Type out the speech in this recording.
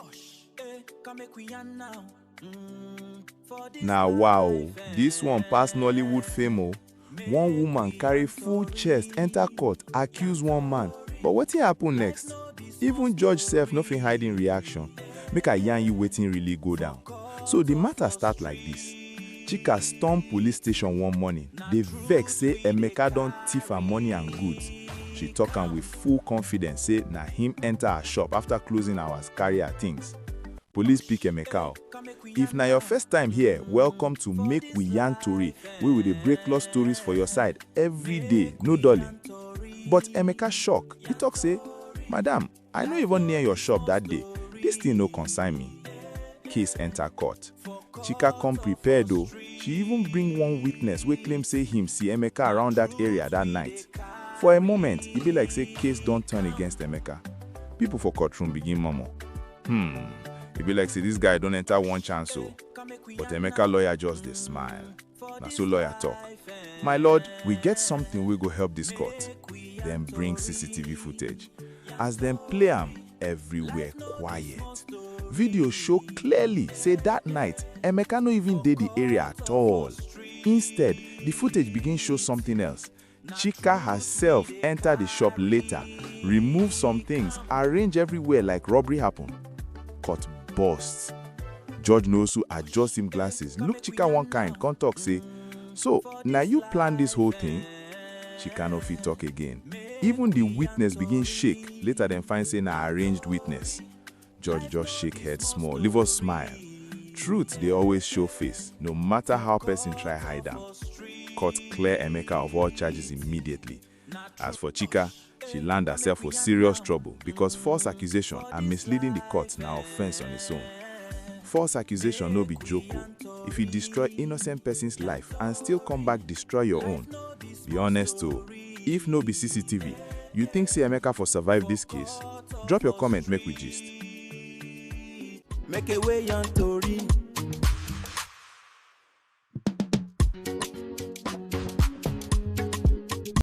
Osh, eh, come make we yarn now. Mm, for this Na life, wow, eh, this one pass Nollywood fame o. One woman carry full chest enter court accuse one man, but wetin happen next? Even judge sef no fit hide im reaction. Make I yarn you wetin really go down. So the matter start like this. Chika storm police station one morning, dey vex say Emeka don thief her money and goods. She talk am with full confidence say na him enter her shop after closing hours carry her things. Police pick Emeka o. If na your first time here, welcome to Make We Yarn Tori wey we dey break lost stories for your side every day, no dulling. But Emeka shock, he talk say, Madam, I no even near your shop that day, this thing no concern me. Case enter court. Chika come prepared o, she even bring one witness wey claim say him see Emeka around that area that night. For a moment, e be like say case don turn against Emeka. People for courtroom begin murmur, hmm, e be like say this guy don enter one chance o. But Emeka lawyer just dey smile. Na so lawyer talk. My lord, we get something wey go help this court. Dem bring CCTV footage. As dem play am, everywhere quiet. Video show clearly say that night, Emeka no even dey the area at all. Instead, the footage begin show something else. Chika herself enter the shop later, remove some things, arrange everywhere like robbery happen. Cut burst. George Nwosu adjust him glasses, look Chika one kind, come talk say, So, na you plan this whole thing? Chika no fit talk again. Even the witness begin shake, later dem find say na arranged witness. George just shake head small, leave us smile. Truth dey always show face, no matter how person try hide am. Court clear Emeka of all charges immediately. As for Chika, she land herself for serious trouble because false accusation and misleading the court na offense on its own. False accusation no be joke o. If you destroy innocent person's life and still come back destroy your own, Be honest o, if no be CCTV, you think say Emeka for survive this case? Drop your comment make we gist. Make a way on Tori.